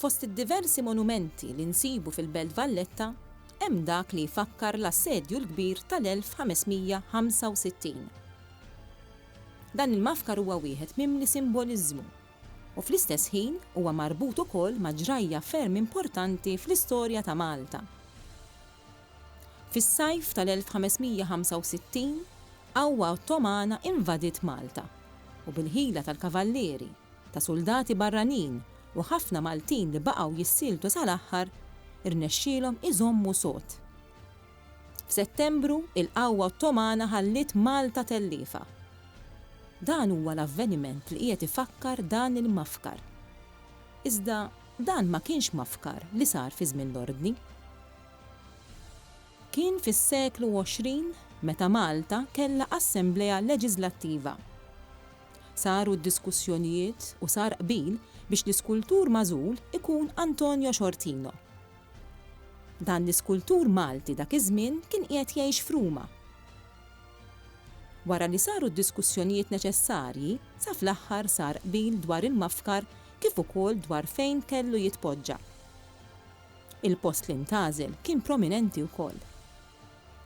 Fost id-diversi monumenti li nsibu fil-Belt Valletta hemm dak li jfakkar l-Assedju l-Kbir tal-1565. Dan il-mafkar huwa wieħed mimli simboliżmu u fl-istess ħin huwa marbut ukoll ma' ġrajja ferm importanti fl-istorja ta' Malta. Fis-sajf tal-1565, qawwa Ottomana invadiet Malta u bil-ħila tal-kavallieri, ta' suldati barranin u ħafna Maltin li baqgħu jissieltu sal-aħħar, irnexxielhom iżommu sod. F'Settembru, il-qawwa Ottomana ħalliet Malta telliefa. Dan huwa l-avveniment li qiegħed ifakkar dan il-mafkar. Iżda dan ma kienx mafkar li sar fi żmien l-Ordni. Kien fis-seklu 20 meta Malta kellha Assemblea Leġiżlattiva. Saru d-diskussjonijiet u sar qbil biex l-iskultur magħżul ikun Antonio Sciortino. Dan l-iskultur Malti dak iż-żmien kien qiegħed jgħix f'Ruma. Wara li saru d-diskussjonijiet neċessarji, sa fl-aħħar sar qbil dwar il-mafkar kif ukoll dwar fejn kellu jitpoġġa. Il-post li ntgħażel kien prominenti wkoll.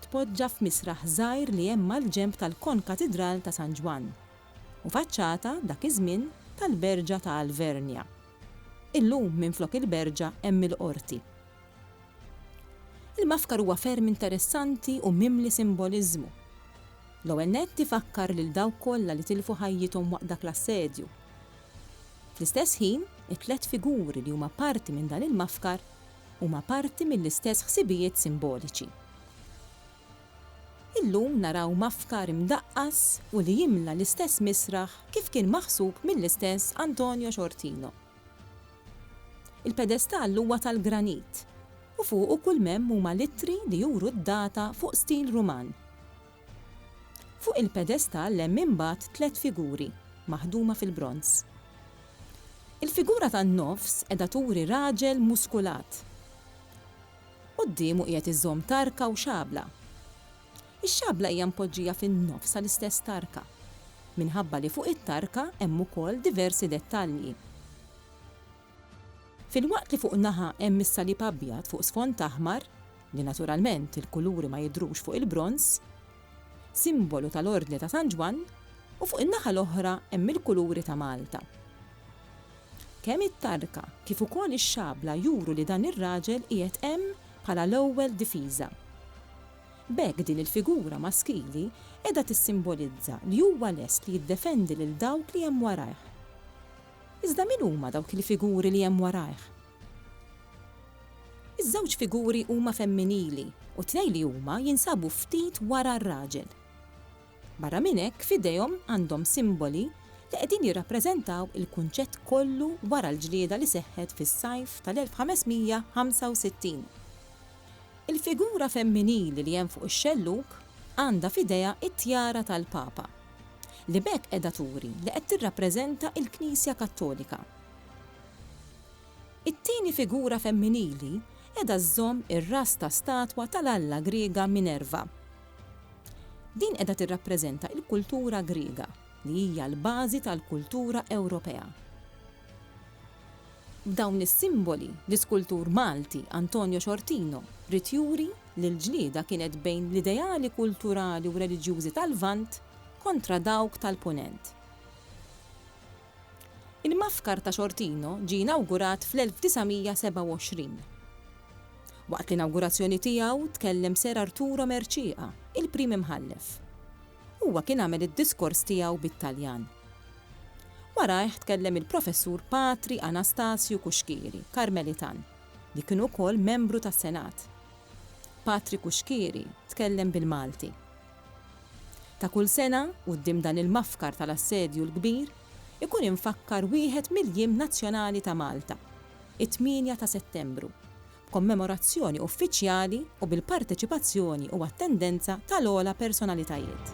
tpoġġa f'misraħ żgħir li hemm mal-ġenb tal-Konkatidral ta' San Ġwann, u faċċata, dak iż-żmien, tal-Berġa ta' Alvernia. Illum minflok il-Berġa hemm il-Qorti. Il-mafkar huwa ferm interessanti u mimli simboliżmu. L-ewwel nett ifakkar lil dawk kollha li tilfu ħajjithom waqt dak l-assedju. Fl-istess ħin, it-tliet figuri li huma parti minn dan il-mafkar, huma parti mill-istess ħsibijiet simboliċi. Illum naraw mafkar imdaqqas u li jimla l-istess misraħ kif kien maħsub mill-istess Antonio Ciortino. Il-pedestall huwa tal-granit u fuqu kull m'hemm huma l-ittri li juru d-data fuq stil Ruman. Fuq il-pedestall hemm imbagħad tliet figuri, maħduma fil-bronż. Il-figura tan-nofs qiegħda turi raġel muskulat. Quddiemu qiegħed iżomm tarka u xabla. Ix-xabla hija mpoġġija fin-nofs tal-istess tarka, minħabba li fuq it-tarka hemm ukoll diversi dettalji. Filwaqt li fuq naħa hemm is-salib abjad fuq sfond aħmar, li naturalment il-kuluri ma jidhrux fuq il-bronż, simbolu tal-Ordni ta' San Ġwann, u fuq in-naħa l-oħra hemm il-kuluri ta' Malta. Kemm it-tarka kif ukoll ix-xabla juru li dan ir-raġel qiegħed hemm bħala l-ewwel difiża. B'hekk din il-figura maskili qiegħda tissimbolizza li huwa lest li jiddefendi lil dawk li hemm warajh. Iżda min huma dawk il-figuri li hemm warajh? Iż-żewġ figuri huma femminili u t-tnejn li huma jinsabu ftit wara r-raġel. Barra minn hekk f'idejhom għandhom simboli li qegħdin jirrappreżentaw il-kunċett kollu wara l-ġlieda li seħħet fis-sajf tal-1565. Il-figura femminili li hemm fuq ix-xellug għandha f'idejha t-tjara tal-Papa. li b'hekk qiegħda turi li qed tirrappreżenta l-Knisja Kattolika. It-tieni figura femminili qiegħda żżomm ir-ras ta' statwa tal-alla Griega Minerva. Din qiegħda tirrappreżenta l-kultura Griega, li hija l-bażi tal-kultura Ewropea. B'dawn is-simboli, l-iskultur Malti Antonio Sciortino ried juri li l-ġlieda kienet bejn l-ideali kulturali u reliġjużi tal-Lvant kontra dawk tal-Punent. Il-Mafkar ta' Xortino ġie inawgurat fl-1927. Waqt l-inawgurazzjoni tiegħu tkellem Ser Arturo Mercieca, il-Prim Imħallef. Huwa kien għamel id-diskors tiegħu bit-Taljan. Warajh tkellem il-Professur Patri Anastasio Cuschieri, Karmelitan. li kien ukoll membru tas-Senat. Patri Cuschieri tkellem bil-Malti. Ta' kull sena, quddiem dan il-mafkar tal-Assedju l-Kbir, ikun imfakkar wieħed mill-jiem nazzjonali ta' Malta, it-tmienja ta' Settembru, b'kommemorazzjoni uffiċjali u bil-parteċipazzjoni u attendenza tal-ogħla personalitajiet.